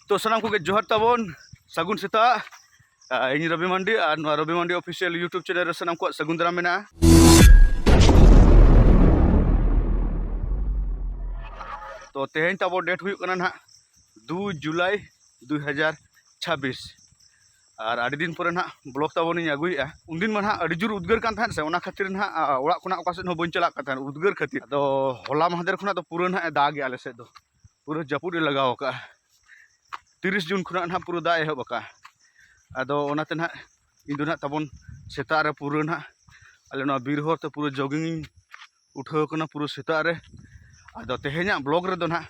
ᱛᱚ ᱥᱟᱱᱟᱢ ᱠᱚᱜᱮ ᱡᱚᱦᱟᱨ ᱛᱟᱵᱚᱱ ᱥᱟᱹᱜᱩᱱ ᱥᱮᱛᱟᱜ ᱤᱧ ᱨᱚᱵᱤ ᱢᱟᱱᱰᱤ ᱟᱨ ᱱᱚᱣᱟ Rabi Mandi official YouTube channel ᱨᱮ ᱥᱟᱱᱟᱢ ᱠᱚᱣᱟᱜ ᱥᱟᱹᱜᱩᱱ ᱫᱟᱨᱟᱢ ᱢᱮᱱᱟᱜᱼᱟ ᱛᱚ ᱛᱮᱦᱮᱧ ᱛᱟᱵᱚ ᱰᱮᱴ ᱦᱩᱭᱩᱜ ᱠᱟᱱᱟ ᱱᱟᱦᱟᱜ ᱫᱩ ᱡᱩᱞᱟᱭ ᱫᱩ ᱦᱟᱡᱟᱨ ᱪᱷᱟᱵᱵᱤᱥ ᱟᱨ ᱟᱹᱰᱤ ᱫᱤᱱ ᱯᱚᱨᱮ ᱱᱟᱦᱟᱜ ᱵᱞᱚᱜ ᱛᱟᱵᱚᱱᱤᱧ ᱟᱹᱜᱩᱭᱮᱫᱼᱟ ᱩᱱᱫᱤᱱ ᱢᱟ ᱱᱟᱦᱟᱜ ᱟᱹᱰᱤ ᱡᱳᱨ ᱩᱫᱽᱜᱟᱹᱨ ᱠᱟᱱ ᱛᱟᱦᱮᱸᱫ ᱥᱮ ᱚᱱᱟ ᱠᱷᱟᱹᱛᱤᱨ ᱱᱟᱦᱟᱜ ᱚᱲᱟᱜ ᱠᱷᱚᱱᱟᱜ ᱚᱠᱟ ᱥᱮᱫ ᱦᱚᱸ ᱵᱟᱹᱧ ᱪᱟᱞᱟᱜ ᱠᱟᱱ ᱛᱟᱦᱮᱸᱫ ᱩᱫᱽᱜᱟᱹᱨ ᱠᱷᱟᱹᱛᱤᱨ ᱟᱫᱚ ᱦᱚᱞᱟ ᱢᱟᱦᱫᱮᱨ ᱠᱷᱚᱱᱟᱜ ᱫᱚ ᱯᱩᱨᱟᱹ ᱱᱟᱦᱟᱜ ᱮ ᱫᱟᱜᱮᱜᱼᱟ ᱟᱞᱮ ᱥᱮᱫ ᱫᱚ ᱯᱩᱨᱟᱹ ᱡᱟᱹᱯᱩᱫ ᱮ ᱞᱟᱜᱟᱣ ᱟᱠᱟᱫᱼᱟ ᱛᱤᱨᱤᱥ ᱡᱩᱱ ᱠᱷᱚᱱᱟᱜ ᱱᱟᱦᱟᱜ ᱯᱩᱨᱟᱹ ᱫᱟᱜ ᱮᱦᱚᱵ ᱟᱠᱟᱫᱼᱟ ᱟᱫᱚ ᱚᱱᱟᱛᱮ ᱱᱟᱦᱟᱜ ᱤᱧ ᱫᱚ ᱱᱟᱦᱟᱜ ᱛᱟᱵᱚᱱ ᱥᱮᱛᱟᱜ ᱨᱮ ᱯᱩᱨᱟᱹ ᱱᱟᱦᱟᱜ ᱟᱞᱮ ᱱᱚᱣᱟ ᱵᱤᱨ ᱦᱚᱨ ᱛᱮ ᱯᱩᱨᱟᱹ ᱡᱳᱜᱤᱝ ᱤᱧ ᱩᱴᱷᱟᱹᱣ ᱟᱠᱟᱱᱟ ᱯᱩᱨᱟᱹ ᱥᱮᱛᱟᱜ ᱨᱮ ᱟᱫᱚ ᱛᱮᱦᱮᱧᱟᱜ ᱵᱞᱚᱜ ᱨᱮᱫᱚ ᱱᱟᱦᱟᱜ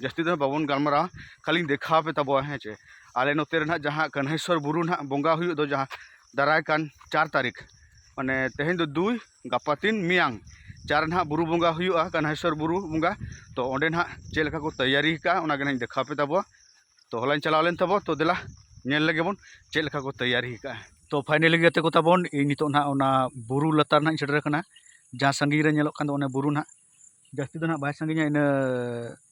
ᱡᱟᱹᱥᱛᱤ ᱫᱚ ᱵᱟᱵᱚᱱ ᱜᱟᱞᱢᱟᱨᱟᱣᱟ ᱠᱷᱟᱹᱞᱤᱧ ᱫᱮᱠᱷᱟᱣ ᱯᱮ ᱛᱟᱵᱚᱣᱟ ᱦᱮᱸ ᱪᱮ ᱟᱞᱮ ᱱᱚᱛᱮ ᱨᱮ ᱱᱟᱦᱟᱜ ᱡᱟᱦᱟᱸ ᱠᱟᱹᱱᱦᱟᱹᱭᱥᱚᱨ ᱵᱩᱨᱩ ᱱᱟᱦᱟᱜ ᱵᱚᱸᱜᱟ ᱦᱩᱭᱩᱜ ᱫᱚ ᱡᱟᱦᱟᱸ ᱫᱟᱨᱟᱭ ᱠᱟᱱ ᱪᱟᱨ ᱛᱟᱹᱨᱤᱠᱷ ᱢᱟᱱᱮ ᱛᱮᱦᱮᱧ ᱫᱚ ᱫᱩᱭ ᱜᱟᱯᱟ ᱛᱤᱱ ᱢᱮᱭᱟᱝ ᱪᱟᱨ ᱱᱟᱦᱟᱜ ᱵᱩᱨᱩ ᱵᱚᱸᱜᱟ ᱦᱩᱭᱩᱜᱼᱟ ᱠᱟᱱᱟᱭᱥᱚᱨ ᱵᱩᱨᱩ ᱵᱚᱸᱜᱟ ᱛᱚ ᱚᱸᱰᱮ ᱱᱟᱦᱟᱜ ᱪᱮᱫ ᱞᱮᱠᱟ ᱠᱚ ᱛᱮᱭᱟᱨᱤ ᱟᱠᱟᱫᱼᱟ ᱚᱱᱟᱜᱮ ᱱᱟᱦᱟᱜ ᱤᱧ ᱫᱮᱠᱷᱟᱣ ᱯᱮ ᱛᱟᱵᱚᱣᱟ ᱛᱚ ᱦᱚᱞᱟᱧ ᱪᱟᱞᱟᱣ ᱞᱮᱱ ᱛᱟᱵᱚ ᱛᱚ ᱫᱮᱞᱟ ᱧᱮᱞ ᱞᱮᱜᱮ ᱵᱚᱱ ᱪᱮᱫ ᱞᱮᱠᱟ ᱠᱚ ᱛᱮᱭᱟᱨᱤ ᱟᱠᱟᱫᱼᱟ ᱛᱚ ᱯᱷᱟᱭᱱᱮᱞᱤ ᱜᱟᱛᱮ ᱠᱚ ᱛᱟᱵᱚᱱ ᱤᱧ ᱱᱤᱛᱚᱜ ᱱᱟᱦᱟᱜ ᱚᱱᱟ ᱵᱩᱨᱩ ᱞᱟᱛᱟᱨ ᱱᱟᱦᱟᱜ ᱤᱧ ᱥᱮᱴᱮᱨ ᱟᱠᱟᱱᱟ ᱡᱟᱦᱟᱸ ᱥᱟᱺᱜᱤᱧ ᱨᱮ ᱧᱮᱞᱚᱜ ᱠᱟᱱ ᱫᱚ ᱚᱱᱮ ᱵᱩᱨᱩ ᱱᱟᱦᱟᱜ ᱡᱟᱹᱥᱛᱤ ᱫᱚ ᱱᱟᱦᱟᱜ ᱵᱟᱭ ᱥᱟᱺᱜᱤᱧᱟ ᱤᱱᱟᱹ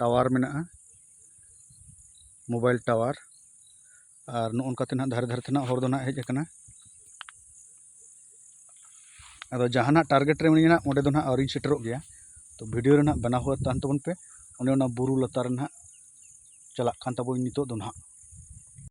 ᱴᱟᱣᱟᱨ ᱢᱮᱱᱟᱜᱼᱟ ᱢᱳᱵᱟᱭᱤᱞ ᱴᱟᱣᱟᱨ ᱟᱨ ᱱᱚᱜᱼᱚ ᱱᱚᱝᱠᱟ ᱛᱮ ᱱᱟᱦᱟᱜ ᱫᱷᱟᱨᱮ ᱫᱷᱟᱨᱮ ᱛᱮ ᱱᱟᱦᱟᱜ ᱦᱚᱨ ᱫᱚ ᱱᱟᱦᱟᱜ ᱦᱮᱡ ᱠᱟᱱᱟ ᱟᱫᱚ ᱡᱟᱦᱟᱱᱟᱜ ᱴᱟᱨᱜᱮᱴ ᱨᱮ ᱢᱤᱱᱟᱹᱧᱟ ᱚᱸᱰᱮ ᱫᱚ ᱱᱟᱦᱟᱜ ᱟᱹᱣᱨᱤᱧ ᱥᱮᱴᱮᱨᱚᱜ ᱜᱮᱭᱟ ᱛᱚ ᱵᱷᱤᱰᱤᱭᱳ ᱨᱮ ᱱᱟᱦᱟᱜ ᱵᱮᱱᱟᱣ ᱦᱩᱭᱩᱜ ᱛᱟᱦᱮᱱ ᱛᱟᱵᱚᱱ ᱯᱮ ᱚᱱᱮ ᱚᱱᱟ ᱵᱩᱨᱩ ᱞᱟᱛᱟᱨ ᱨᱮ ᱱᱟᱦᱟᱜ ᱪᱟᱞᱟᱜ ᱠᱟᱱ ᱛᱟᱵᱚᱱ ᱱᱤᱛᱚᱜ ᱫᱚ ᱱᱟᱦᱟᱜ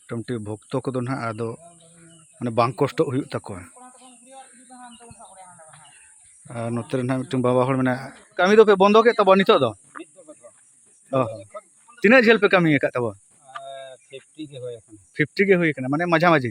ᱢᱳᱴᱟᱢᱩᱴᱤ ᱵᱷᱚᱠᱛᱚ ᱠᱚᱫᱚ ᱦᱟᱸᱜ ᱟᱫᱚ ᱢᱟᱱᱮ ᱵᱟᱝ ᱠᱚᱥᱴᱚᱜ ᱦᱩᱭᱩᱜ ᱛᱟᱠᱚᱣᱟ ᱟᱨ ᱱᱚᱛᱮ ᱨᱮ ᱦᱟᱸᱜ ᱢᱤᱫᱴᱟᱝ ᱵᱟᱵᱟ ᱦᱚᱲ ᱢᱮᱱᱟᱭᱟ ᱠᱟᱹᱢᱤ ᱫᱚᱯᱮ ᱵᱚᱱᱫᱚ ᱠᱮᱫ ᱛᱟᱵᱚᱱᱟ ᱱᱤᱛᱚᱜ ᱫᱚ ᱚ ᱛᱤᱱᱟᱹᱜ ᱡᱷᱟᱹᱞ ᱯᱮ ᱠᱟᱹᱢᱤ ᱟᱠᱟᱫ ᱛᱟᱵᱚᱱᱟ ᱯᱷᱤᱯᱴᱤ ᱜᱮ ᱦᱩᱭ ᱟᱠᱟᱱᱟ ᱯᱷᱤᱯᱴᱤ ᱜᱮ ᱦᱩᱭ ᱟᱠᱟᱱᱟ ᱢᱟᱱᱮ ᱢᱟᱡᱷᱟ ᱢᱟᱹᱡᱷᱤ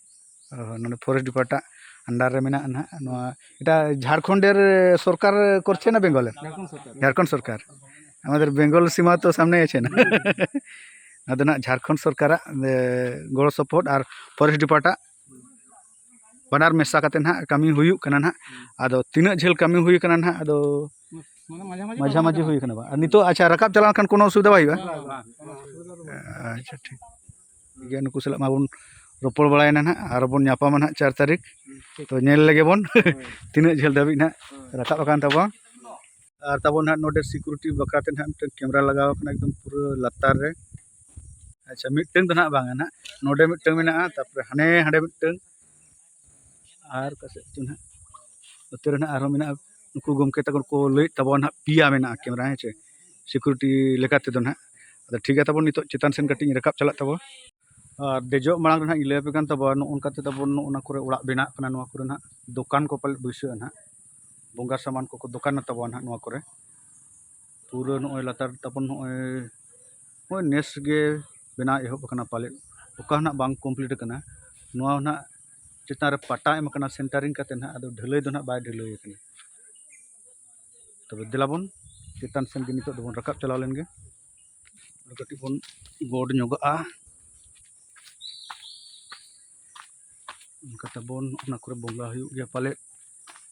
ᱚ ᱱᱚᱰᱮ ᱯᱷᱚᱨᱮᱥᱴ ᱰᱤᱯᱟᱨᱴ ᱟᱜ ᱟᱱᱰᱟᱨ ᱨᱮ ᱢᱮᱱᱟᱜᱼᱟ ᱱᱟᱜ ᱱᱚᱣᱟ ᱮᱴᱟ ᱡᱷᱟᱲᱠᱷᱚᱸᱰ ᱨᱮ ᱥᱚᱨᱠᱟᱨ ᱠᱚᱨᱪᱷᱮ ᱱᱟ ᱵᱮᱝᱜᱚᱞ ᱨᱮ ᱡᱷᱟᱲᱠᱷᱚᱸᱰ ᱥᱚᱨᱠᱟᱨ ᱟᱢᱟᱫᱮᱨ ᱵᱮᱝᱜᱚᱞ ᱥᱤᱢᱟ ᱛᱚ ᱥᱟᱢᱱᱮ ᱟᱪᱷᱮ ᱱᱟ ᱟᱫᱚ ᱱᱟᱜ ᱡᱷᱟᱲᱠᱷᱚᱸᱰ ᱥᱚᱨᱠᱟᱨᱟᱜ ᱜᱚᱲᱚ ᱥᱚᱯᱚᱦᱚᱫ ᱟᱨ ᱯᱷᱚᱨᱮᱥᱴ ᱰᱤᱯᱟᱨᱴ ᱟᱜ ᱵᱟᱱᱟᱨ ᱢᱮᱥᱟ ᱠᱟᱛᱮ ᱱᱟᱜ ᱠᱟᱹᱢᱤ ᱦᱩᱭᱩᱜ ᱠᱟᱱᱟ ᱱᱟᱜ ᱟᱫᱚ ᱛᱤᱱᱟᱹᱜ ᱡᱷᱟᱹᱞ ᱠᱟᱹᱢᱤ ᱦᱩᱭ ᱠᱟᱱᱟ ᱱᱟᱜ ᱟᱫᱚ ᱢᱟᱡᱷᱟ ᱢᱟᱹᱡᱷᱤ ᱦᱩᱭ ᱠᱟᱱᱟ ᱵᱟ ᱟᱨ ᱱᱤᱛᱚᱜ ᱟᱪᱪᱷᱟ ᱨᱟᱠᱟᱵ ᱪᱟᱞᱟᱣ ᱞᱮᱱᱠᱷᱟᱱ ᱠᱳᱱᱳ ᱚᱥᱩᱵᱤᱫᱷᱟ ᱵᱟᱭ ᱦᱩᱭᱩᱜᱼᱟ ᱟᱪᱪᱷᱟ ᱴᱷᱤᱠ ᱴᱷᱤᱠ ᱜᱮᱭᱟ ᱱᱩᱠᱩ ᱥᱟᱞᱟᱜ ᱢᱟᱵᱚᱱ ᱨᱚᱯᱚᱲ ᱵᱟᱲᱟᱭᱮᱱᱟ ᱦᱟᱸᱜ ᱟᱨ ᱵᱚᱱ ᱧᱟᱯᱟᱢᱟ ᱦᱟᱸᱜ ᱪᱟᱨ ᱛᱟᱹᱨᱤᱠᱷ ᱛᱚ ᱧᱮᱞ ᱞᱮᱜᱮ ᱵᱚᱱ ᱛᱤᱱᱟᱹᱜ ᱡᱷᱟᱹᱞ ᱫᱷᱟᱹᱵᱤᱡ ᱦᱟᱸᱜ ᱨᱟᱠᱟᱵ ᱟᱠᱟᱱ ᱛᱟᱵᱚᱱᱟ ᱟᱨ ᱛᱟᱵᱚᱱ ᱦᱟᱸᱜ ᱱᱚᱰᱮ ᱥᱤᱠᱩᱨᱤᱴᱤ ᱵᱟᱠᱷᱨᱟ ᱛᱮ ᱦᱟᱸᱜ ᱢᱤᱫᱴᱟᱹᱝ ᱠᱮᱢᱮᱨᱟ ᱞᱟᱜᱟᱣ ᱠᱟᱱᱟ ᱮᱠᱫᱚᱢ ᱯᱩᱨᱟᱹ ᱞᱟᱛᱟᱨ ᱨᱮ ᱟᱪᱪᱷᱟ ᱢᱤᱫᱴᱟᱹᱝ ᱫᱚ ᱦᱟᱸᱜ ᱵᱟᱝᱟ ᱦᱟᱸᱜ ᱱᱚᱰᱮ ᱢᱤᱫᱴᱟᱹᱝ ᱢᱮᱱᱟᱜᱼᱟ ᱛᱟᱨᱯᱚᱨᱮ ᱦᱟᱱᱮ ᱦᱟᱸᱰᱮ ᱢᱤᱫᱴᱟᱹᱝ ᱟᱨ ᱚᱠᱟ ᱥᱮᱫ ᱪᱚ ᱦᱟᱸᱜ ᱱᱚᱛᱮ ᱨᱮ ᱦᱟᱸᱜ ᱟᱨᱦᱚᱸ ᱢᱮᱱᱟᱜᱼᱟ ᱱᱩᱠᱩ ᱜᱚᱢᱠᱮ ᱛᱟᱠᱚ ᱠᱚ ᱞᱟᱹᱭᱮᱫ ᱛᱟᱵᱚᱱ ᱦᱟᱸᱜ ᱯᱮᱭᱟ ᱢᱮᱱᱟᱜᱼᱟ ᱠᱮᱢᱮᱨᱟ ᱦᱮᱸ ᱪᱮ ᱥᱤᱠᱩᱨᱤᱴᱤ ᱞᱮᱠᱟ ᱛᱮᱫᱚ ᱦᱟᱸᱜ ᱟᱫᱚ ᱴᱷᱤᱠ ᱜᱮᱭᱟ ᱛᱟᱵᱚᱱ ᱱᱤᱛᱚᱜ ᱪᱮᱛᱟᱱ ᱥᱮᱫ ᱠᱟᱹᱴᱤᱡ ᱤᱧ ᱨᱟᱠᱟᱵ ᱪᱟᱞᱟᱜ ᱛᱟᱵᱚᱱ ᱟᱨ ᱫᱮᱡᱚᱜ ᱢᱟᱲᱟᱝ ᱨᱮ ᱦᱟᱸᱜ ᱤᱧ ᱞᱟᱹᱭ ᱟᱯᱮ ᱠᱟᱱ ᱛᱟᱵᱚᱱ ᱱᱚᱜᱼᱚ ᱱᱚᱝᱠᱟ ᱛᱮ ᱛᱟᱵᱚᱱ ᱱᱚᱜᱼᱚ ᱱᱚᱣᱟ ᱠᱚᱨᱮᱜ ᱚᱲᱟᱜ ᱵᱮᱱᱟᱜ ᱠᱟᱱᱟ ᱱᱚᱣᱟ ᱠᱚᱨᱮ ᱦᱟᱸᱜ ᱫᱚᱠᱟᱱ ᱠᱚ ᱯᱟᱞᱮᱫ ᱵᱟᱹᱭᱥᱟᱹᱜᱼᱟ ᱦᱟᱸᱜ ᱵᱚᱸᱜᱟ ᱥᱟᱢᱟᱱ ᱠᱚᱠᱚ ᱫᱚᱠᱟᱱᱟ ᱛᱟᱵᱚᱱ ᱦᱟᱸᱜ ᱱᱚᱣᱟ ᱠᱚᱨᱮᱜ ᱯᱩᱨᱟᱹ ᱱᱚᱜᱼᱚᱸᱭ ᱞᱟᱛᱟᱨ ᱛᱟᱵᱚᱱ ᱱᱚᱜᱼᱚᱸᱭ ᱱᱚᱜᱼᱚᱸᱭ ᱱᱮᱥ ᱜᱮ ᱵᱮᱱᱟᱣ ᱮᱦᱚᱵ ᱠᱟᱱᱟ ᱯᱟᱞᱮᱫ ᱚᱠᱟ ᱦᱚᱸ ᱱᱟᱦᱟᱜ ᱵᱟᱝ ᱠᱚᱢᱯᱞᱤᱴ ᱠᱟᱱᱟ ᱱᱚᱣᱟ ᱦᱚᱸ ᱱᱟᱦᱟᱜ ᱪᱮᱛᱟᱱ ᱨᱮ ᱯᱟᱴᱟ ᱮᱢ ᱠᱟᱱᱟ ᱥᱮᱱᱴᱟᱨᱤᱝ ᱠᱟᱛᱮᱫ ᱱᱟᱦᱟᱜ ᱟᱫᱚ ᱰᱷᱟᱹᱞᱟᱹᱭ ᱫᱚ ᱱᱟᱦᱟᱜ ᱵᱟᱭ ᱰᱷᱟᱹᱞᱟᱹᱭ ᱠᱟᱱᱟ ᱛᱚᱵᱮ ᱫᱮᱞᱟ ᱵᱚᱱ ᱪᱮᱛᱟᱱ ᱥᱮᱱ ᱜᱮ ᱱᱤᱛᱚᱜ ᱫᱚᱵᱚᱱ ᱨᱟᱠᱟᱵ ᱪᱟᱞᱟᱣ ᱞᱮᱱ ᱜᱮ ᱟᱫᱚ ᱠᱟᱹᱴᱤᱡ ᱵᱚᱱ ᱜᱚᱰ ᱧᱚᱜᱚᱜᱼᱟ ᱚᱱᱠᱟ ᱛᱟᱵᱚᱱ ᱚᱱᱟ ᱠᱚᱨᱮ ᱵᱚᱸᱜᱟ ᱦᱩᱭᱩᱜ ᱜᱮᱭᱟ ᱯᱟᱞᱮᱫ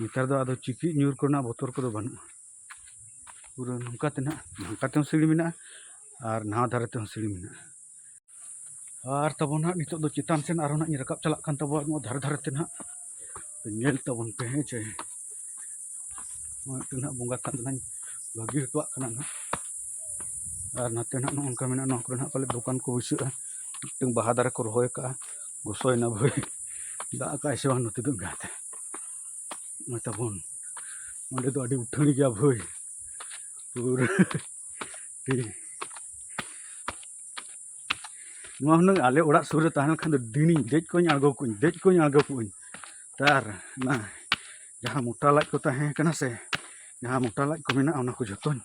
ᱱᱮᱛᱟᱨ ᱫᱚ ᱟᱫᱚ ᱪᱤᱠᱤᱡ ᱧᱩᱨ ᱠᱚᱨᱮᱱᱟᱜ ᱵᱚᱛᱚᱨ ᱠᱚᱫᱚ ᱵᱟᱹᱱᱩᱜᱼᱟ ᱯᱩᱨᱟᱹ ᱱᱚᱝᱠᱟ ᱛᱮ ᱱᱟᱦᱟᱜ ᱱᱚᱝᱠᱟ ᱛᱮᱦᱚᱸ ᱥᱤᱲᱤ ᱢᱮᱱᱟᱜᱼᱟ ᱟᱨ ᱱᱟᱣᱟ ᱫᱷᱟᱨᱮ ᱛᱮᱦᱚᱸ ᱥᱤᱲᱤ ᱢᱮᱱᱟᱜᱼᱟ ᱟᱨ ᱛᱟᱵᱚᱱ ᱱᱟᱦᱟᱜ ᱱᱤᱛᱚᱜ ᱫᱚ ᱪᱮᱛᱟᱱ ᱥᱮᱱ ᱟᱨᱦᱚᱸ ᱱᱟᱦᱟᱜ ᱤᱧ ᱨᱟᱠᱟᱵ ᱪᱟᱞᱟᱜ ᱠᱟᱱ ᱛᱟᱵᱚᱣᱟ ᱱᱚᱣᱟ ᱫᱷᱟᱨᱮ ᱫᱷᱟᱨᱮ ᱛᱮ ᱱᱟᱦᱟᱜ ᱧᱮᱞ ᱛᱟᱵᱚᱱ ᱯᱮ ᱦᱮᱸ ᱪᱮ ᱱᱚᱜᱼᱚᱭ ᱢᱤᱫᱴᱮᱱ ᱱᱟᱦᱟᱜ ᱵᱚᱸᱜᱟ ᱛᱷᱟᱱ ᱫᱚ ᱱᱟᱦᱟᱜ ᱵᱟᱹᱜᱤ ᱦᱚᱴᱚᱣᱟᱜ ᱠᱟᱱᱟ ᱱᱟᱦᱟᱜ ᱟᱨ ᱱᱟᱛᱮ ᱱᱟᱦᱟᱜ ᱱᱚᱜᱼᱚ ᱱᱚᱝᱠᱟ ᱢᱮᱱᱟᱜᱼᱟ ᱱᱚᱣᱟ ᱠᱚᱨᱮ ᱱᱟᱦᱟᱜ ᱯᱟᱞᱮᱫ ᱫᱚᱠᱟᱱ ᱠᱚ ᱵᱟᱹᱭᱥᱟᱹᱜᱼᱟ ᱢᱤᱫᱴᱮᱱ ᱵᱟᱦᱟ ᱫᱟᱨᱮ ᱠᱚ ᱨᱚᱦᱚᱭ ᱠᱟᱜᱼᱟ ᱜᱚᱥᱚᱭᱮᱱᱟ ᱵᱷᱟᱹᱭ ᱫᱟᱜ ᱟᱠᱟᱫᱟᱭ ᱥᱮ ᱵᱟᱝ ᱱᱚᱛᱮ ᱫᱚ ᱮᱸᱜᱟᱛᱮ ᱢᱟ ᱛᱟᱵᱚᱱ ᱚᱸᱰᱮ ᱫᱚ ᱟᱹᱰᱤ ᱩᱴᱷᱟᱹᱲ ᱜᱮᱭᱟ ᱵᱷᱟᱹᱭ ᱯᱩᱨᱟᱹ ᱱᱚᱣᱟ ᱦᱩᱱᱟᱹᱝ ᱟᱞᱮ ᱚᱲᱟᱜ ᱥᱩᱨ ᱨᱮ ᱛᱟᱦᱮᱸ ᱞᱮᱱᱠᱷᱟᱱ ᱫᱚ ᱫᱤᱱᱤᱧ ᱫᱮᱡ ᱠᱚᱧ ᱟᱬᱜᱚ ᱠᱚᱧ ᱫᱮᱡ ᱠᱚᱧ ᱟᱬᱜᱚ ᱠᱚᱧ ᱛᱟᱨ ᱚᱱᱟ ᱡᱟᱦᱟᱸ ᱢᱚᱴᱟ ᱞᱟᱡ ᱠᱚ ᱛᱟᱦᱮᱸ ᱠᱟᱱᱟ ᱥᱮ ᱡᱟᱦᱟᱸ ᱢᱚᱴᱟ ᱞᱟᱡ ᱠᱚ ᱢᱮᱱᱟᱜᱼᱟ ᱚᱱᱟ ᱠᱚ ᱡᱚᱛᱚᱧ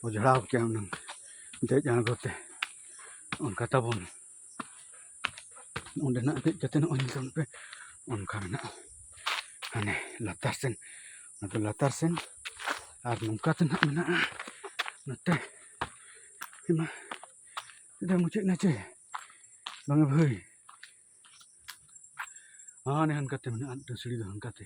ᱚᱡᱽᱲᱟᱣ ᱠᱮᱭᱟ ᱦᱩᱱᱟᱹᱝ ᱫᱮᱡ ᱟᱬᱜᱚ ᱛᱮ ᱚᱱᱠᱟ ᱛᱟᱵᱚᱱ ᱚᱸᱰᱮᱱᱟᱜ ᱫᱮᱡ ᱠᱟᱛᱮ ᱱᱚᱜᱼᱚᱭ ᱧᱮᱞ ᱯᱮ ᱚᱱᱠᱟ ᱢᱮᱱᱟᱜᱼᱟ ᱦᱟᱱᱮ ᱞᱟᱛᱟᱨ ᱥᱮᱱ ᱟᱫᱚ ᱞᱟᱛᱟᱨ ᱥᱮᱱ ᱟᱨ ᱱᱚᱝᱠᱟ ᱛᱮ ᱱᱟᱦᱟᱜ ᱢᱮᱱᱟᱜᱼᱟ ᱱᱚᱛᱮ ᱢᱟ ᱟᱹᱰᱤ ᱢᱩᱪᱟᱹᱫ ᱮᱱᱟ ᱪᱮ ᱵᱟᱝᱟ ᱵᱷᱟᱹᱭ ᱦᱟᱱᱮ ᱦᱟᱱᱠᱟᱛᱮ ᱢᱮᱱᱟᱜᱼᱟ ᱢᱤᱫᱴᱟᱝ ᱥᱤᱲᱤ ᱫᱚ ᱦᱟᱱᱠᱟᱛᱮ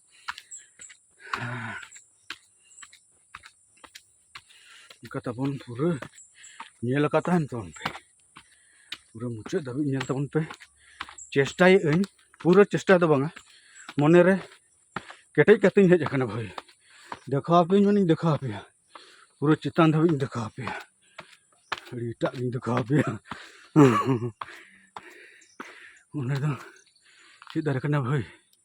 ᱚᱱᱠᱟ ᱛᱟᱵᱚᱱ ᱯᱩᱨᱟᱹ ᱧᱮᱞ ᱟᱠᱟᱫ ᱛᱟᱦᱮᱱ ᱛᱟᱵᱚᱱ ᱯᱮ ᱯᱩᱨᱟᱹ ᱢᱩᱪᱟᱹᱫ ᱫᱷᱟᱹᱵᱤᱡ ᱧᱮᱞ ᱛᱟᱵᱚᱱ ᱯᱮ ᱪᱮᱥᱴᱟᱭᱮᱫ ᱟᱹᱧ ᱯᱩᱨᱟᱹ ᱪᱮᱥᱴᱟ ᱫᱚ ᱵᱟᱝᱟ ᱢᱚᱱᱮᱨᱮ ᱠᱮᱴᱮᱡ ᱠᱟᱛᱮᱧ ᱦᱮᱡ ᱟᱠᱟᱱᱟ ᱵᱷᱟᱹᱭ ᱫᱮᱠᱷᱟᱣ ᱟᱯᱮᱭᱟᱹᱧ ᱢᱟᱱᱮᱧ ᱫᱮᱠᱷᱟᱣ ᱟᱯᱮᱭᱟ ᱯᱩᱨᱟᱹ ᱪᱮᱛᱟᱱ ᱫᱷᱟᱹᱵᱤᱡ ᱤᱧ ᱫᱮᱠᱷᱟᱣ ᱟᱯᱮᱭᱟ ᱟᱹᱰᱤ ᱮᱴᱟᱜ ᱜᱤᱧ ᱫᱮᱠᱷᱟᱣ ᱟᱯᱮᱭᱟ ᱚᱱᱟ ᱫᱚ ᱪᱮᱫ ᱫᱟᱨᱮ ᱠᱟᱱᱟ ᱵᱷᱟᱹᱭ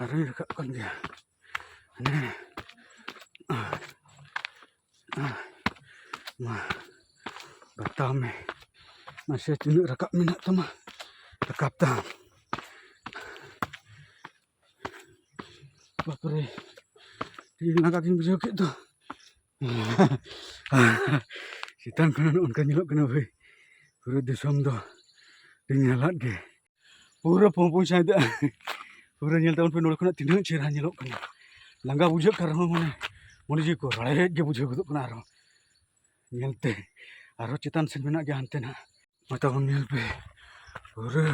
ᱟᱨᱚᱧ ᱨᱟᱠᱟᱵ ᱠᱟᱱ ᱜᱮᱭᱟ ᱦᱟᱱᱮ ᱢᱟ ᱵᱟᱛᱟᱣ ᱢᱮ ᱢᱟᱥᱮ ᱛᱤᱱᱟᱹᱜ ᱨᱟᱠᱟᱵ ᱢᱮᱱᱟᱜ ᱛᱟᱢᱟ ᱨᱟᱠᱟᱵ ᱛᱟᱢ ᱵᱟᱯᱨᱮ ᱤᱧ ᱞᱟᱸᱜᱟ ᱜᱤᱧ ᱵᱩᱡᱷᱟᱹᱣ ᱠᱮᱫ ᱫᱚ ᱪᱮᱛᱟᱱ ᱠᱷᱚᱱᱟᱜ ᱚᱱᱠᱟ ᱧᱮᱞᱚᱜ ᱠᱟᱱᱟ ᱵᱷᱟᱹᱭ ᱯᱩᱨᱟᱹ ᱫᱤᱥᱚᱢ ᱫᱚ ᱟᱹᱰᱤ ᱧᱟᱞᱟᱫ ᱜᱮ ᱯᱩᱨᱟᱹ ᱯᱩᱸᱯᱩᱡ ᱥᱟᱶᱛᱮ ᱯᱩᱨᱟᱹ ᱧᱮᱞ ᱛᱟᱵᱚᱱ ᱯᱮ ᱱᱚᱰᱮ ᱠᱷᱚᱱᱟᱜ ᱛᱤᱱᱟᱹᱜ ᱪᱮᱦᱨᱟ ᱧᱮᱞᱚᱜ ᱠᱟᱱᱟ ᱞᱟᱸᱜᱟ ᱵᱩᱡᱷᱟᱹᱜ ᱠᱟᱱ ᱨᱮᱦᱚᱸ ᱢᱟᱱᱮ ᱢᱚᱱᱮ ᱡᱤᱣᱤ ᱠᱚ ᱨᱟᱲᱮᱡ ᱜᱮ ᱵᱩᱡᱷᱟᱹᱣ ᱜᱚᱫᱚᱜ ᱠᱟᱱᱟ ᱟᱨᱦᱚᱸ ᱧᱮᱞᱛᱮ ᱟᱨᱦᱚᱸ ᱪᱮᱛᱟᱱ ᱥᱮᱫ ᱢᱮᱱᱟᱜ ᱜᱮᱭᱟ ᱦᱟᱱᱛᱮ ᱱᱟᱜ ᱢᱟ ᱛᱟᱵᱚᱱ ᱧᱮᱞ ᱯᱮ ᱯᱩᱨᱟᱹ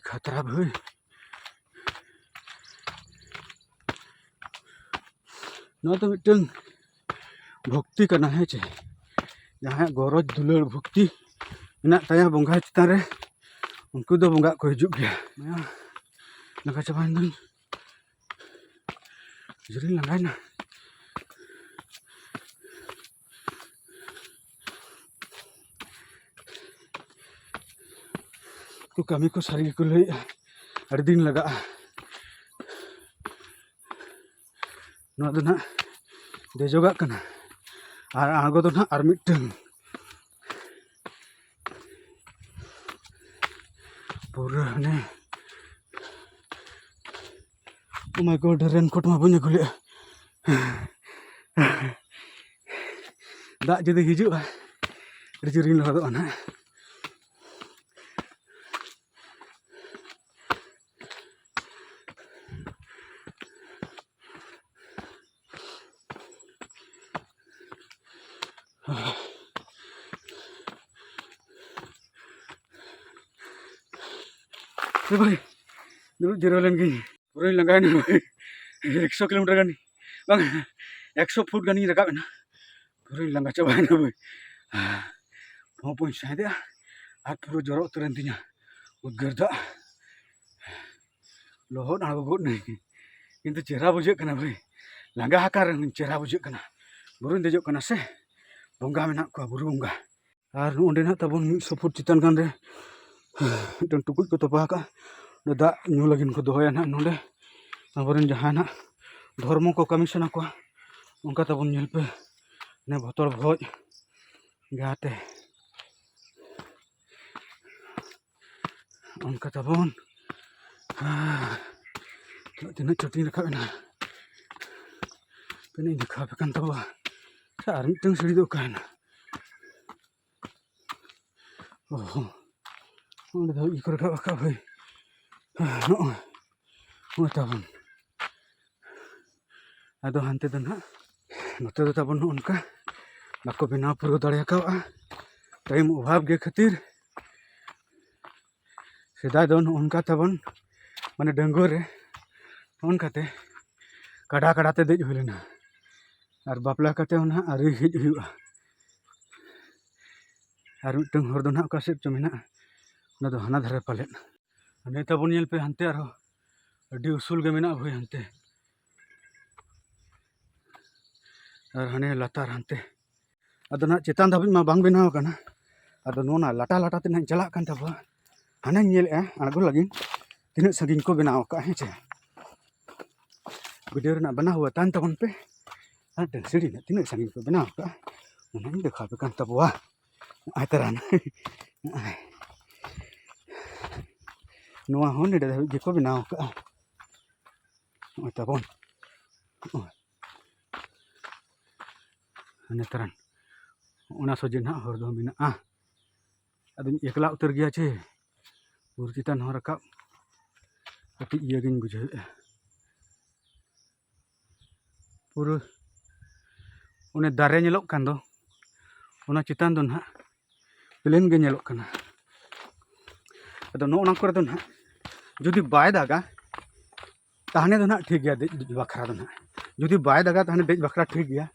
ᱠᱷᱟᱛᱨᱟ ᱵᱷᱟᱹᱭ ᱱᱚᱣᱟ ᱫᱚ ᱢᱤᱫᱴᱟᱹᱝ ᱵᱷᱚᱠᱛᱤ ᱠᱟᱱᱟ ᱦᱮᱸ ᱪᱮ ᱡᱟᱦᱟᱸᱭᱟᱜ ᱜᱚᱨᱚᱡᱽ ᱫᱩᱞᱟᱹᱲ ᱵᱷᱚᱠᱛᱤ ᱢᱮᱱᱟᱜ ᱛᱟᱭᱟ ᱵᱚᱸᱜᱟ ᱪᱮᱛᱟᱱ ᱨᱮ ᱩᱱᱠᱩ ᱫᱚ ᱵᱚᱸᱜᱟᱜ ᱠᱚ ᱦᱤᱡᱩᱜ ᱜᱮᱭᱟ ᱞᱟᱸᱜᱟ ᱪᱟᱵᱟᱭᱮᱱ ᱫᱚᱧ ᱡᱳᱨᱤᱧ ᱞᱟᱸᱜᱟᱭᱮᱱᱟ ᱩᱱᱠᱩ ᱠᱟᱹᱢᱤ ᱠᱚ ᱥᱟᱹᱨᱤ ᱜᱮᱠᱚ ᱞᱟᱹᱭᱮᱫᱼᱟ ᱟᱹᱰᱤ ᱫᱤᱱ ᱞᱟᱜᱟᱜᱼᱟ ᱱᱚᱣᱟ ᱫᱚ ᱦᱟᱸᱜ ᱫᱮᱡᱚᱜᱟᱜ ᱠᱟᱱᱟ ᱟᱨ ᱟᱬᱜᱚ ᱫᱚ ᱦᱟᱸᱜ ᱟᱨ ᱢᱤᱫᱴᱟᱹᱱ ᱯᱩᱨᱟᱹ ᱦᱟᱱᱮ ᱚᱱᱟ ᱠᱚ ᱨᱮᱱ ᱠᱳᱴ ᱢᱟ ᱵᱟᱹᱧ ᱟᱹᱜᱩ ᱞᱮᱜᱼᱟ ᱫᱟᱜ ᱡᱩᱫᱤ ᱦᱤᱡᱩᱜᱼᱟ ᱟᱹᱰᱤ ᱡᱳᱨᱤᱧ ᱞᱚᱦᱚᱫᱚᱜᱼᱟ ᱦᱟᱸᱜ ᱥᱮ ᱵᱷᱟᱹᱭ ᱫᱩᱲᱩᱵ ᱡᱤᱨᱟᱹᱣ ᱞᱮᱱ ᱜᱤᱧ ᱯᱩᱨᱟᱹᱧ ᱞᱟᱸᱜᱟᱭᱮᱱᱟ ᱵᱷᱟᱹᱭ ᱮᱠᱥᱚ ᱠᱤᱞᱳᱢᱤᱴᱟᱨ ᱜᱟᱱ ᱵᱟᱝ ᱮᱠᱥᱚ ᱯᱷᱩᱴ ᱜᱟᱱᱤᱧ ᱨᱟᱠᱟᱵ ᱮᱱᱟ ᱯᱩᱨᱟᱹᱧ ᱞᱟᱸᱜᱟ ᱪᱟᱵᱟᱭᱮᱱᱟ ᱵᱟᱹᱧ ᱯᱷᱚᱸ ᱯᱷᱚᱸᱧ ᱥᱟᱸᱦᱮᱫᱮᱜᱼᱟ ᱟᱨ ᱯᱩᱨᱟᱹ ᱡᱚᱨᱚ ᱩᱛᱟᱹᱨᱮᱱ ᱛᱤᱧᱟᱹ ᱩᱫᱽᱜᱟᱹᱨ ᱫᱟᱜ ᱞᱚᱦᱚᱫ ᱟᱬᱜᱚ ᱜᱚᱫ ᱱᱟᱹᱧ ᱠᱤᱱᱛᱩ ᱪᱮᱦᱨᱟ ᱵᱩᱡᱷᱟᱹᱜ ᱠᱟᱱᱟ ᱵᱷᱟᱹᱭ ᱞᱟᱸᱜᱟ ᱟᱠᱟᱱ ᱨᱮᱦᱚᱸᱧ ᱪᱮᱦᱨᱟ ᱵᱩᱡᱷᱟᱹᱜ ᱠᱟᱱᱟ ᱵᱩᱨᱩᱧ ᱫᱮᱡᱚᱜ ᱠᱟᱱᱟ ᱥᱮ ᱵᱚᱸᱜᱟ ᱢᱮᱱᱟᱜ ᱠᱚᱣᱟ ᱵᱩᱨᱩ ᱵᱚᱸᱜᱟ ᱟᱨ ᱱᱚᱰᱮ ᱱᱟᱜ ᱛᱟᱵᱚᱱ ᱢᱤᱫ ᱥᱚ ᱯᱷᱩᱴ ᱪᱮᱛᱟᱱ ᱜᱟᱱ ᱨᱮ ᱢᱤᱫᱴᱮᱱ ᱴᱩᱠᱩᱡ ᱠᱚ ᱛᱚᱯᱟ ᱟᱠᱟᱫᱼᱟ ᱚᱸᱰᱮ ᱫᱟᱜ ᱧᱩ ᱞᱟᱹᱜᱤᱫ ᱠᱚ ᱫᱚᱦᱚᱭᱟ ᱱᱟᱜ ᱱᱚᱰᱮ ᱟᱵᱚ ᱨᱮᱱ ᱡᱟᱦᱟᱸᱭ ᱱᱟᱜ ᱫᱷᱚᱨᱢᱚ ᱠᱚ ᱠᱟᱹᱢᱤ ᱥᱟᱱᱟ ᱠᱚᱣᱟ ᱚᱱᱠᱟ ᱛᱟᱵᱚᱱ ᱧᱮᱞ ᱯᱮ ᱚᱱᱮ ᱵᱚᱛᱚᱨ ᱵᱷᱚᱡᱽ ᱡᱟᱦᱟᱸ ᱛᱮ ᱚᱱᱠᱟ ᱛᱟᱵᱚᱱ ᱛᱤᱱᱟᱹᱜ ᱪᱚᱴᱤᱧ ᱨᱟᱠᱟᱵ ᱮᱱᱟ ᱛᱤᱱᱟᱹᱜ ᱤᱧ ᱫᱮᱠᱷᱟᱣ ᱟᱯᱮ ᱠᱟᱱ ᱛᱟᱵᱚᱣᱟ ᱟᱪᱪᱷᱟ ᱟᱨ ᱢᱤᱫᱴᱟᱝ ᱥᱤᱲᱤ ᱫᱚ ᱚᱠᱟᱭᱮᱱᱟ ᱚ ᱚᱸᱰᱮ ᱫᱚ ᱤᱭᱟᱹ ᱠᱚ ᱨᱟᱠᱟᱵ ᱟᱠᱟᱫ ᱦᱳᱭ ᱱᱚᱜᱼᱚᱭ ᱦᱩᱭᱩᱜ ᱛᱟᱵᱚᱱ ᱟᱫᱚ ᱦᱟᱱᱛᱮ ᱫᱚ ᱱᱟᱜ ᱱᱚᱛᱮ ᱫᱚ ᱛᱟᱵᱚᱱ ᱱᱚᱜᱼᱚ ᱱᱚᱝᱠᱟ ᱵᱟᱠᱚ ᱵᱮᱱᱟᱣ ᱯᱩᱨᱟᱹᱣ ᱫᱟᱲᱮ ᱠᱟᱣᱫᱟ ᱴᱟᱭᱤᱢ ᱚᱵᱷᱟᱵᱽ ᱜᱮ ᱠᱷᱟᱹᱛᱤᱨ ᱥᱮᱫᱟᱭ ᱫᱚ ᱱᱚᱜᱼᱚ ᱱᱚᱝᱠᱟ ᱛᱟᱵᱚᱱ ᱢᱟᱱᱮ ᱰᱟᱺᱜᱩᱣᱟᱹ ᱨᱮ ᱯᱷᱳᱱ ᱠᱟᱛᱮ ᱠᱟᱰᱟ ᱠᱟᱰᱟ ᱛᱮ ᱫᱮᱡ ᱦᱩᱭ ᱞᱮᱱᱟ ᱟᱨ ᱵᱟᱯᱞᱟ ᱠᱟᱛᱮ ᱦᱚᱸ ᱱᱟᱜ ᱟᱹᱣᱨᱤ ᱦᱮᱡ ᱦᱩᱭᱩᱜᱼᱟ ᱟᱨ ᱢᱤᱫᱴᱟᱝ ᱦᱚᱨ ᱫᱚ ᱱᱟᱜ ᱚᱠᱟ ᱥᱮᱫ ᱪᱚ ᱢᱮᱱᱟᱜᱼᱟ ᱚᱱᱟ ᱫᱚ ᱦᱟᱱᱟ ᱫᱷᱟᱨᱮ ᱯᱟᱞᱮᱫ ᱦᱟᱱᱮ ᱛᱟᱵᱚᱱ ᱧᱮᱞ ᱯᱮ ᱦᱟᱱᱛᱮ ᱟᱨᱦᱚᱸ ᱟᱹᱰᱤ ᱩᱥᱩᱞ ᱜᱮ ᱢᱮᱱᱟᱜᱼᱟ ᱵᱷᱟᱹᱭ ᱦᱟᱱᱛᱮ ᱟᱨ ᱦᱟᱱᱮ ᱞᱟᱛᱟᱨ ᱦᱟᱱᱛᱮ ᱟᱫᱚ ᱱᱟᱦᱟᱜ ᱪᱮᱛᱟᱱ ᱫᱷᱟᱹᱵᱤᱡ ᱢᱟ ᱵᱟᱝ ᱵᱮᱱᱟᱣ ᱟᱠᱟᱱᱟ ᱟᱫᱚ ᱱᱚᱣᱟ ᱞᱟᱴᱟ ᱞᱟᱴᱟ ᱛᱮ ᱱᱟᱦᱟᱜ ᱪᱟᱞᱟᱜ ᱠᱟᱱ ᱛᱟᱵᱚᱣᱟ ᱦᱟᱱᱮᱧ ᱧᱮᱞᱮᱜᱼᱟ ᱟᱬᱜᱚ ᱞᱟᱹᱜᱤᱫ ᱛᱤᱱᱟᱹᱜ ᱥᱟᱺᱜᱤᱧ ᱠᱚ ᱵᱮᱱᱟᱣ ᱟᱠᱟᱫᱼᱟ ᱦᱮᱸ ᱪᱮ ᱵᱷᱤᱰᱤᱭᱳ ᱨᱮᱱᱟᱜ ᱵᱮᱱᱟᱣ ᱦᱩᱭᱟ ᱛᱟᱦᱮᱱ ᱛᱟᱵᱚᱱ ᱯᱮ ᱟᱨ ᱥᱤᱲᱤ ᱨᱮᱱᱟᱜ ᱛᱤᱱᱟᱹᱜ ᱥᱟᱺᱜᱤᱧ ᱠᱚ ᱵᱮᱱᱟᱣ ᱟᱠᱟᱫᱼᱟ ᱚᱱᱟᱧ ᱫᱮᱠᱷᱟᱣ ᱟᱯᱮ ᱠᱟᱱ ᱛᱟᱵᱚᱣᱟ ᱱᱚᱜᱼᱚᱭ ᱛᱚᱨᱟ ᱱᱚᱜᱼᱚᱭ ᱱᱚᱣᱟ ᱦᱚᱸ ᱱᱚᱰᱮ ᱫᱷᱟᱹᱵᱤᱡ ᱜᱮᱠᱚ ᱵᱮᱱᱟᱣ ᱠᱟᱜᱼᱟ ᱱᱚᱜᱼᱚᱭ ᱛᱟᱵᱚᱱ ᱱᱚᱜᱼᱚᱭ ᱦᱟᱱᱮ ᱛᱟᱨᱟᱱ ᱚᱱᱟ ᱥᱚᱡᱷᱮ ᱱᱟᱦᱟᱜ ᱦᱚᱨ ᱫᱚ ᱢᱮᱱᱟᱜᱼᱟ ᱟᱫᱚᱧ ᱮᱠᱞᱟ ᱩᱛᱟᱹᱨ ᱜᱮᱭᱟ ᱪᱮ ᱵᱩᱨᱩ ᱪᱮᱛᱟᱱ ᱦᱚᱸ ᱨᱟᱠᱟᱵ ᱠᱟᱹᱴᱤᱡ ᱤᱭᱟᱹ ᱜᱤᱧ ᱵᱩᱡᱷᱟᱹᱣᱮᱫᱼᱟ ᱯᱩᱨᱟᱹ ᱚᱱᱮ ᱫᱟᱨᱮ ᱧᱮᱞᱚᱜ ᱠᱟᱱ ᱫᱚ ᱚᱱᱟ ᱪᱮᱛᱟᱱ ᱫᱚ ᱱᱟᱦᱟᱜ ᱯᱞᱮᱱ ᱜᱮ ᱧᱮᱞᱚᱜ ᱠᱟᱱᱟ ᱟᱫᱚ ᱱᱚᱜᱼᱚ ᱱᱚᱣᱟ ᱠᱚᱨᱮ ᱫᱚ ᱱᱟᱦᱟᱜ ᱡᱩᱫᱤ ᱵᱟᱭ ᱫᱟᱜᱟ ᱛᱟᱦᱞᱮ ᱫᱚ ᱱᱟᱦᱟᱜ ᱴᱷᱤᱠ ᱜᱮᱭᱟ ᱫᱮᱡ ᱵᱟᱠᱷᱨᱟ ᱫᱚ ᱱᱟᱦᱟᱜ ᱡᱩᱫᱤ ᱵᱟᱭ ᱫᱟᱜᱟ ᱛᱟᱦᱞᱮ ᱫᱮᱡ ᱵᱟᱠᱷᱨᱟ ᱴᱷᱤᱠ ᱜᱮᱭᱟ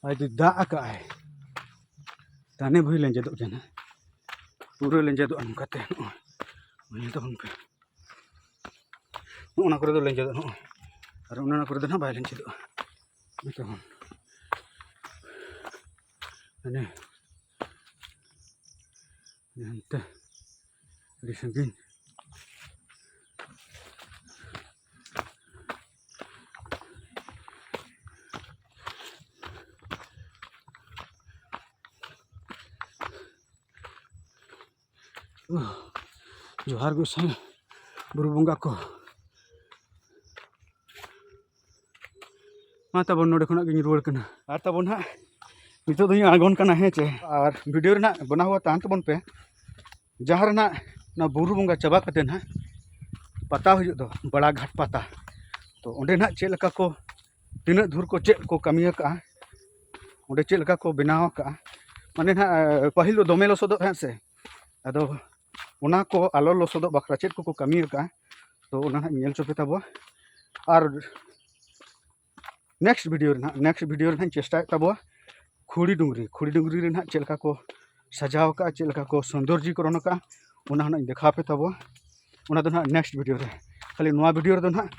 ᱟᱨ ᱡᱩᱫᱤ ᱫᱟᱜ ᱟᱠᱟᱜᱼᱟᱭ ᱛᱟᱦᱞᱮ ᱵᱷᱩᱭ ᱞᱮᱸᱡᱮᱫᱚᱜ ᱜᱮᱭᱟ ᱱᱟᱦᱟᱜ ᱯᱩᱨᱟᱹ ᱞᱮᱸᱡᱮᱫᱚᱜᱼᱟ ᱱᱚᱝᱠᱟᱛᱮ ᱱᱚᱜᱼᱚᱭ ᱧᱮᱞ ᱛᱟᱵᱚᱱ ᱯᱮ ᱱᱚᱜᱼᱚ ᱱᱟ ᱠᱚᱨᱮ ᱫᱚ ᱞᱮᱸᱡᱮᱫᱚᱜᱼᱟ ᱱᱚᱜᱼᱚᱭ ᱟᱨ ᱚᱱᱮ ᱚᱱᱟ ᱠᱚᱨᱮ ᱫᱚ ᱦᱟᱸᱜ ᱵᱟᱭ ᱞᱮᱸᱡᱮᱫᱚᱜᱼᱟ ᱱᱚᱛᱮ ᱦᱚᱸ ᱦᱟᱱᱮ ᱦᱟᱱᱛᱮ ᱟᱹᱰᱤ ᱥᱟᱺᱜᱤᱧ ᱡᱚᱦᱟᱨ ᱜᱚᱸᱥᱟᱭ ᱵᱩᱨᱩ ᱵᱚᱸᱜᱟ ᱠᱚ ᱢᱟ ᱛᱟᱵᱚᱱ ᱱᱚᱰᱮ ᱠᱷᱚᱱᱟᱜ ᱜᱤᱧ ᱨᱩᱣᱟᱹᱲ ᱠᱟᱱᱟ ᱟᱨ ᱛᱟᱵᱚᱱ ᱦᱟᱸᱜ ᱱᱤᱛᱚᱜ ᱫᱚᱧ ᱟᱬᱜᱚᱱ ᱠᱟᱱᱟ ᱦᱮᱸ ᱪᱮ ᱟᱨ ᱵᱷᱤᱰᱤᱭᱳ ᱨᱮᱱᱟᱜ ᱵᱮᱱᱟᱣ ᱦᱩᱭᱩᱜᱼᱟ ᱛᱟᱦᱮᱱ ᱛᱟᱵᱚᱱ ᱯᱮ ᱡᱟᱦᱟᱸ ᱨᱮᱱᱟᱜ ᱚᱱᱟ ᱵᱩᱨᱩ ᱵᱚᱸᱜᱟ ᱪᱟᱵᱟ ᱠᱟᱛᱮ ᱦᱟᱸᱜ ᱯᱟᱛᱟ ᱦᱩᱭᱩᱜ ᱫᱚ ᱵᱟᱲᱟᱜᱷᱟᱴ ᱯᱟᱛᱟ ᱛᱚ ᱚᱸᱰᱮ ᱦᱟᱸᱜ ᱪᱮᱫ ᱞᱮᱠᱟ ᱠᱚ ᱛᱤᱱᱟᱹᱜ ᱫᱷᱩᱨ ᱠᱚ ᱪᱮᱫ ᱠᱚ ᱠᱟᱹᱢᱤ ᱟᱠᱟᱫᱼᱟ ᱚᱸᱰᱮ ᱪᱮᱫ ᱞᱮᱠᱟ ᱠᱚ ᱵᱮᱱᱟᱣ ᱟᱠᱟᱫᱼᱟ ᱢᱟᱱᱮ ᱱᱟᱦᱟᱜ ᱯᱟᱹᱦᱤᱞ ᱫᱚ ᱫᱚᱢᱮ ᱞᱚᱥᱚᱫᱚᱜ ᱛᱟᱦᱮᱸᱫ ᱥᱮ ᱟᱫᱚ ᱚᱱᱟ ᱠᱚ ᱟᱞᱚ ᱞᱚᱥᱚᱫᱚᱜ ᱵᱟᱠᱷᱨᱟ ᱪᱮᱫ ᱠᱚᱠᱚ ᱠᱟᱹᱢᱤ ᱟᱠᱟᱫᱼᱟ ᱛᱚ ᱚᱱᱟ ᱦᱟᱸᱜ ᱧᱮᱞ ᱦᱚᱪᱚ ᱯᱮ ᱛᱟᱵᱚᱣᱟ ᱟᱨ ᱱᱮᱠᱥᱴ ᱵᱷᱤᱰᱤᱭᱳ ᱨᱮ ᱱᱟᱦᱟᱜ ᱱᱮᱠᱥᱴ ᱵᱷᱤᱰᱤᱭᱳ ᱨᱮ ᱱᱟᱦᱟᱜ ᱪᱮᱥᱴᱟᱭᱮᱫ ᱛᱟᱵᱚᱣᱟ ᱠᱷᱩᱲᱤ ᱰᱩᱝᱨᱤ ᱠᱷᱩᱲᱤ ᱰᱩᱝᱨᱤ ᱨᱮ ᱱᱟᱦᱟᱜ ᱪᱮᱫ ᱞᱮᱠᱟ ᱠᱚ ᱥᱟᱡᱟᱣ ᱟᱠᱟᱫᱼᱟ ᱪᱮᱫ ᱞᱮᱠᱟ ᱠᱚ ᱥᱚᱱᱫᱚᱨᱡᱤᱠᱚᱨᱚᱱ ᱟᱠᱟᱫᱼᱟ ᱚᱱᱟ ᱦᱚᱸ ᱱᱟᱦᱟᱜ ᱫᱮᱠᱷᱟᱣ ᱯᱮ ᱛᱟᱵᱚᱣᱟ ᱚᱱᱟ ᱫᱚ ᱱᱟᱦᱟᱜ ᱱᱮᱠᱥᱴ ᱵᱷᱤᱰᱤᱭᱳ ᱨᱮ ᱠᱷᱟᱹᱞᱤ ᱱᱚᱣᱟ ᱵᱷᱤᱰᱤᱭᱳ ᱨᱮᱫᱚ ᱱᱟᱦᱟᱜ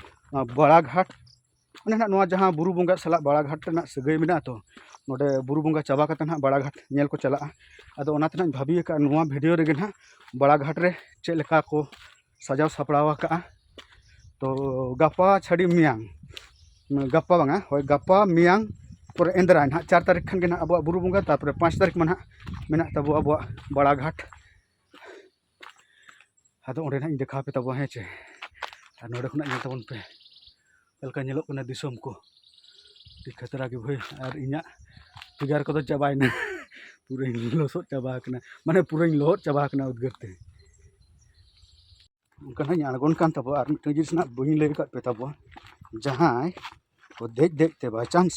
ᱵᱟᱲᱟᱜᱷᱟᱴ ᱚᱱᱮ ᱦᱟᱸᱜ ᱱᱚᱣᱟ ᱡᱟᱦᱟᱸ ᱵᱩᱨᱩ ᱵᱚᱸᱜᱟ ᱥᱟᱞᱟᱜ ᱵᱟᱲᱟ ᱜᱷᱟᱴ ᱨᱮᱱᱟᱜ ᱥᱟᱹᱜᱟᱹᱭ ᱢᱮᱱᱟᱜᱼᱟ ᱛᱚ ᱱᱚᱰᱮ ᱵᱩᱨᱩ ᱵᱚᱸᱜᱟ ᱪᱟᱵᱟ ᱠᱟᱛᱮ ᱦᱟᱸᱜ ᱵᱟᱲᱟ ᱜᱷᱟᱴ ᱧᱮᱞ ᱠᱚ ᱪᱟᱞᱟᱜᱼᱟ ᱟᱫᱚ ᱚᱱᱟᱛᱮ ᱦᱟᱸᱜ ᱵᱷᱟᱹᱵᱤ ᱟᱠᱟᱫᱼᱟ ᱱᱚᱣᱟ ᱵᱷᱤᱰᱭᱳ ᱨᱮᱜᱮ ᱦᱟᱸᱜ ᱵᱟᱲᱟ ᱜᱷᱟᱴ ᱨᱮ ᱪᱮᱫ ᱞᱮᱠᱟ ᱠᱚ ᱥᱟᱡᱟᱣ ᱥᱟᱯᱲᱟᱣ ᱟᱠᱟᱫᱼᱟ ᱛᱚ ᱜᱟᱯᱟ ᱪᱷᱟᱹᱰᱤ ᱢᱮᱭᱟᱝ ᱜᱟᱯᱟ ᱵᱟᱝᱟ ᱦᱳᱭ ᱜᱟᱯᱟ ᱢᱮᱭᱟᱝ ᱯᱚᱨᱮ ᱮᱸᱫᱽᱨᱟᱭ ᱦᱟᱸᱜ ᱪᱟᱨ ᱛᱟᱹᱨᱤᱠᱷ ᱠᱷᱟᱱ ᱜᱮ ᱦᱟᱸᱜ ᱟᱵᱚᱣᱟᱜ ᱵᱩᱨᱩ ᱵᱚᱸᱜᱟ ᱛᱟᱨᱯᱚᱨᱮ ᱯᱟᱸᱪ ᱛᱟᱹᱨᱤᱠᱷ ᱢᱟ ᱦᱟᱸᱜ ᱢᱮᱱᱟᱜ ᱛᱟᱵᱚ ᱟᱵᱚᱣᱟᱜ ᱵᱟᱲᱟ ᱜᱷᱟᱴ ᱟᱫᱚ ᱚᱸᱰᱮ ᱱᱟᱜ ᱤᱧ ᱫᱮᱠᱷᱟᱣ ᱟᱯᱮ ᱛᱟᱵᱚᱱᱟ ᱦᱮᱸ ᱪᱮ ᱟᱨ ᱱᱚᱰᱮ ᱠᱷᱚᱱᱟᱜ ᱧᱮᱞ ᱛᱟᱵᱚᱱ ᱯᱮ ᱪᱮᱫ ᱞᱮᱠᱟ ᱧᱮᱞᱚᱜ ᱠᱟᱱᱟ ᱫᱤᱥᱚᱢ ᱠᱚ ᱟᱹᱰᱤ ᱠᱷᱟᱛᱨᱟ ᱜᱮ ᱵᱷᱟᱹᱭ ᱟᱨ ᱤᱧᱟᱹᱜ ᱯᱷᱤᱜᱟᱨ ᱠᱚᱫᱚ ᱪᱟᱵᱟᱭᱮᱱᱟ ᱯᱩᱨᱟᱹᱧ ᱞᱚᱥᱚᱫ ᱪᱟᱵᱟ ᱟᱠᱟᱱᱟ ᱢᱟᱱᱮ ᱯᱩᱨᱟᱹᱧ ᱞᱚᱦᱚᱫ ᱪᱟᱵᱟ ᱟᱠᱟᱱᱟ ᱩᱫᱽᱜᱟᱹᱨ ᱛᱮ ᱚᱱᱠᱟ ᱦᱚᱸᱧ ᱟᱬᱜᱚᱱ ᱠᱟᱱ ᱛᱟᱵᱚᱣᱟ ᱟᱨ ᱢᱤᱫᱴᱟᱝ ᱡᱤᱱᱤᱥ ᱱᱟᱜ ᱵᱟᱹᱧ ᱞᱟᱹᱭ ᱟᱠᱟᱫ ᱯᱮ ᱛᱟᱵᱚᱣᱟ ᱡᱟᱦᱟᱸᱭ ᱠᱚ ᱫᱮᱡ ᱫᱮᱡ ᱛᱮ ᱵᱟᱭᱪᱟᱱᱥ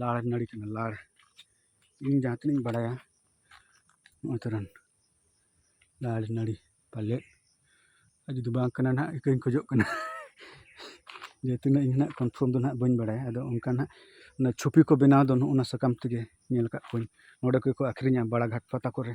ᱞᱟᱲ ᱱᱟᱹᱲᱤ ᱠᱟᱱᱟ ᱞᱟᱲ ᱤᱧ ᱡᱟᱦᱟᱸ ᱛᱤᱱᱟᱹᱜ ᱤᱧ ᱵᱟᱲᱟᱭᱟ ᱱᱚᱣᱟ ᱛᱚᱨᱟᱝ ᱞᱟᱲ ᱱᱟᱹᱲᱤ ᱯᱟᱞᱮᱫ ᱟᱨ ᱡᱩᱫᱤ ᱵᱟᱝ ᱠᱟᱱᱟ ᱦᱟᱸᱜ ᱤᱠᱟᱹᱧ ᱠᱷᱚᱡᱚᱜ ᱠᱟᱱᱟ ᱡᱮ ᱛᱤᱱᱟᱹᱜ ᱤᱧ ᱦᱟᱸᱜ ᱠᱚᱱᱯᱷᱟᱨᱢ ᱫᱚ ᱦᱟᱸᱜ ᱵᱟᱹᱧ ᱵᱟᱲᱟᱭᱟ ᱟᱫᱚ ᱚᱱᱠᱟ ᱦᱟᱸᱜ ᱚᱱᱟ ᱪᱷᱚᱵᱤ ᱠᱚ ᱵᱮᱱᱟᱣ ᱫᱚ ᱱᱚᱜᱼᱚᱸᱭ ᱱᱟ ᱥᱟᱠᱟᱢ ᱛᱮᱜᱮ ᱧᱮᱞ ᱠᱟᱜ ᱠᱚᱣᱟᱧ ᱱᱚᱰᱮ ᱠᱚᱠᱚ ᱟᱹᱠᱷᱨᱤᱧᱟ ᱵᱟᱲᱟ ᱜᱷᱟᱴ ᱯᱟᱛᱟ ᱠᱚᱨᱮ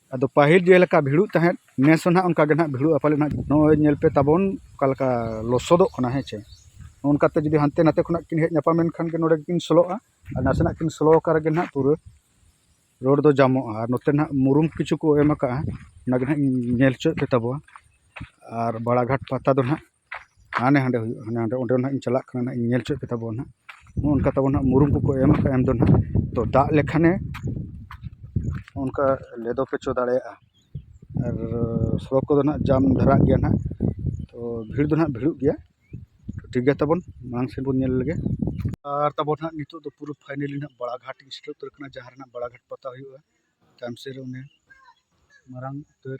ᱟᱫᱚ ᱯᱟᱹᱦᱤᱞ ᱡᱮ ᱞᱮᱠᱟ ᱵᱷᱤᱲᱚᱜ ᱛᱟᱦᱮᱸᱫ ᱱᱮᱥ ᱦᱚᱸ ᱱᱟᱦᱟᱜ ᱚᱱᱠᱟ ᱜᱮ ᱱᱟᱦᱟᱜ ᱵᱷᱤᱲᱚᱜᱼᱟ ᱯᱟᱞᱮᱱ ᱦᱟᱸᱜ ᱱᱚᱜᱼᱚᱸᱭ ᱧᱮᱞ ᱯᱮ ᱛᱟᱵᱚᱱ ᱚᱠᱟ ᱞᱮᱠᱟ ᱞᱚᱥᱚᱫᱚᱜ ᱠᱟᱱᱟ ᱦᱮᱸ ᱪᱮ ᱚᱱᱠᱟ ᱛᱮ ᱡᱩᱫᱤ ᱦᱟᱱᱛᱮ ᱱᱟᱛᱮ ᱠᱷᱚᱱᱟᱜ ᱠᱤᱱ ᱦᱮᱡ ᱧᱟᱯᱟᱢᱮᱱ ᱠᱷᱟᱱ ᱜᱮ ᱱᱚᱰᱮ ᱜᱮᱠᱤᱱ ᱥᱳᱞᱳᱜᱼᱟ ᱟᱨ ᱱᱟᱥᱮᱱᱟᱜ ᱠᱤᱱ ᱥᱳᱞᱳ ᱟᱠᱟᱱ ᱨᱮᱜᱮ ᱱᱟᱦᱟᱜ ᱯᱩᱨᱟᱹ ᱨᱳᱰ ᱫᱚ ᱡᱟᱢᱚᱜᱼᱟ ᱟᱨ ᱱᱚᱛᱮ ᱱᱟᱦᱟᱜ ᱢᱩᱨᱩᱢ ᱠᱤᱪᱷᱩ ᱠᱚ ᱮᱢ ᱠᱟᱜᱼᱟ ᱚᱱᱟ ᱜᱮ ᱱᱟᱦᱟᱜ ᱤᱧ ᱧᱮᱞ ᱦᱚᱪᱚᱭᱮᱫ ᱯᱮ ᱛᱟᱵᱚᱱᱟ ᱟᱨ ᱵᱟᱲᱟ ᱜᱷᱟᱴ ᱯᱟᱛᱟ ᱫᱚ ᱱᱟᱦᱟᱜ ᱦᱟᱱᱮ ᱦᱟᱸᱰᱮ ᱦᱩᱭᱩᱜᱼᱟ ᱦᱟᱱᱮ ᱦᱟᱸᱰᱮ ᱚᱸᱰᱮ ᱱᱟᱦᱟᱜ ᱤᱧ ᱪᱟᱞᱟᱜ ᱠᱟᱱᱟ ᱱᱟᱦᱟᱜ ᱤᱧ ᱧᱮᱞ ᱦᱚᱪᱚᱭ ᱯᱮ ᱛᱟᱵᱚᱱ ᱱᱟᱦᱟᱜ ᱱᱚᱜᱼᱚ ᱱᱚᱝᱠᱟ ᱛᱟᱵᱚᱱ ᱱᱟᱦᱟᱜ ᱢᱩᱨᱩᱢ ᱠᱚᱠᱚ ᱮᱢ ᱠᱟᱜᱼᱟ ᱮᱢ ᱫᱚ ᱱᱟᱦᱟᱜ ᱛᱚ ᱫᱟᱜ ᱞᱮᱠᱷᱟᱱᱮ ᱚᱱᱠᱟ ᱞᱮᱫᱚ ᱯᱚᱪᱚ ᱫᱟᱲᱮᱭᱟᱜᱼᱟ ᱟᱨ ᱥᱚᱠ ᱠᱚᱫᱚ ᱱᱟᱦᱟᱜ ᱡᱟᱢ ᱫᱷᱟᱨᱟᱜ ᱜᱮᱭᱟ ᱱᱟᱦᱟᱜ ᱛᱚ ᱵᱷᱤᱲ ᱫᱚ ᱱᱟᱦᱟᱜ ᱵᱷᱤᱲᱚᱜ ᱜᱮᱭᱟ ᱴᱷᱤᱠ ᱜᱮᱭᱟ ᱛᱟᱵᱚᱱ ᱢᱟᱲᱟᱝ ᱥᱮᱫ ᱵᱚᱱ ᱧᱮᱞ ᱞᱮᱜᱮ ᱟᱨ ᱛᱟᱵᱚᱱ ᱱᱟᱦᱟᱜ ᱱᱤᱛᱚᱜ ᱫᱚ ᱯᱩᱨᱟᱹ ᱯᱷᱟᱭᱱᱮᱞᱤ ᱱᱟᱦᱟᱜ ᱵᱟᱲᱟ ᱜᱷᱟᱴ ᱤᱧ ᱥᱮᱴᱮᱨ ᱩᱛᱟᱹᱨ ᱠᱟᱱᱟ ᱡᱟᱦᱟᱸ ᱨᱮ ᱱᱟᱦᱟᱜ ᱵᱟᱲᱟ ᱜᱷᱟᱴ ᱯᱟᱛᱟ ᱦᱩᱭᱩᱜᱼᱟ ᱛᱟᱭᱚᱢ ᱥᱮᱫ ᱨᱮ ᱚᱱᱮ ᱢᱟᱨᱟᱝ ᱩᱛᱟᱹᱨ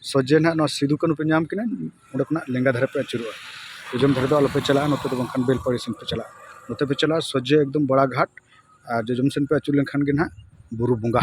ᱥᱚᱡᱷᱮ ᱱᱟᱦᱟᱜ ᱱᱚᱣᱟ ᱥᱤᱫᱩ ᱠᱟᱹᱱᱦᱩ ᱯᱮ ᱧᱟᱢ ᱠᱤᱱᱟ ᱚᱸᱰᱮ ᱠᱷᱚᱱᱟᱜ ᱞᱮᱸᱜᱟ ᱫᱷᱟᱨᱮ ᱯᱮ ᱟᱹᱪᱩᱨᱚᱜᱼᱟ ᱯᱮᱪᱷᱚᱱ ᱫᱷᱟᱨᱮ ᱫᱚ ᱟᱞᱚ ᱯᱮ ᱪᱟᱞᱟᱜᱼᱟ ᱱᱚᱛᱮ ᱫᱚ ᱵᱟᱝᱠᱷᱟᱱ ᱵᱮᱞᱯᱟᱦᱟᱲᱤ ᱥᱮᱫ ᱯᱮ ᱪᱟᱞᱟᱜᱼᱟ ᱱᱚᱛᱮ ᱯᱮ ᱪᱟᱞᱟᱜᱼᱟ ᱥᱚᱡᱷᱮ ᱮᱠᱫᱚᱢ ᱵᱚᱲᱟ ᱜᱷᱟᱴ ᱟᱨ ᱡᱚᱡᱚᱢ ᱥᱮᱫ ᱯᱮ ᱟᱹᱪᱩᱨ ᱞᱮᱱᱠᱷᱟᱱ ᱜᱮ ᱱᱟᱦᱟᱜ ᱵᱩᱨᱩ ᱵᱚᱸᱜᱟ